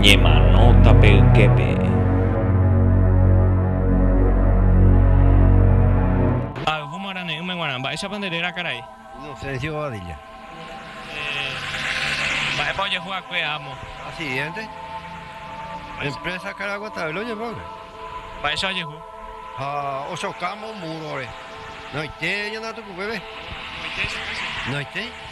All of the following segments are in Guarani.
Ñemanóta pe yképe. Ayvu marane'ỹme guarã. Mba'éichapa nde réra karai? Inocencio Badilla. Mba'épa ojehu akue amo? Accidente. Empresa Cara Guatavela oñemogue. Mba'éicha ojehu? Ha ochokámo muro-re. Noite ñana tukukuépe. Noite che péicha. Noite.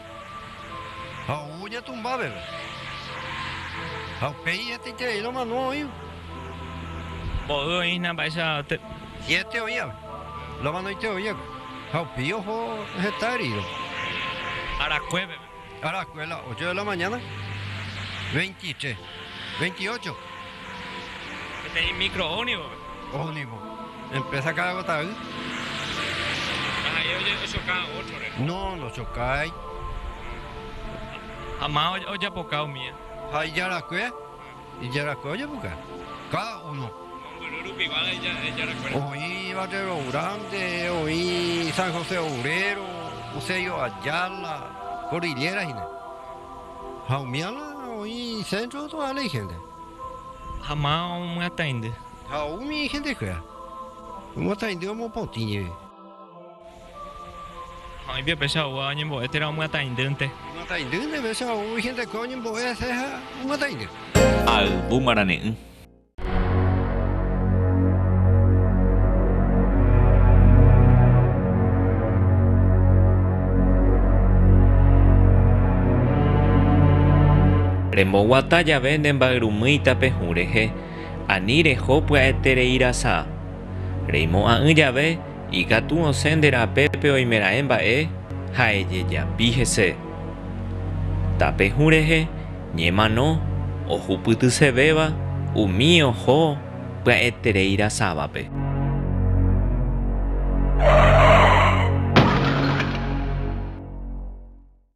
ha ou oñatũmba veve. Ha upéi hetaiterei romano oĩva. Mboy oĩ hína mba'eichagua. Siete oĩva, romanoite oĩva, ha upéi oho heta herídoma. Arakue peve. Arakue la ocho de la mañana, veintitres, veintiocho. Peteĩ micro ónibus. Ónibus. Empresa Caraguatavy. Ha ha'e ochoka ótrore. No, nochokái. Ha ma ojapoka umíva. Ha ijarakue, ijarakue ojapoka. Cada uno. Mombyry rupigua ijarakue. Oĩ Barrero Grande, oĩ San José Obrero, Eusebio Ayala, Cordillera hína. Ha umi ala oĩ centro toda ley gente. Ha ma omyataindy. Ha ou umi gentekuéra omyataindy omopotĩ jeve. Ha oĩ pepécha ou añembo'e térã omyataindýnte. Omyataindýnte pepécha ou gentekuéra oñembo'e hese ha omyataindy. Ayvu marane'ỹ. Remboguata jave ne mbayrumýita pe hũ rehe, ani reho pya'etereirasa. Reimo'ã'ỹ jave, ikatu osẽ nde rape pe oimeraẽ mba'e ha ejejapi hese. Tape hũ rehe, Ñemano ohupytysevéva umi oho pya'eterei rasávape.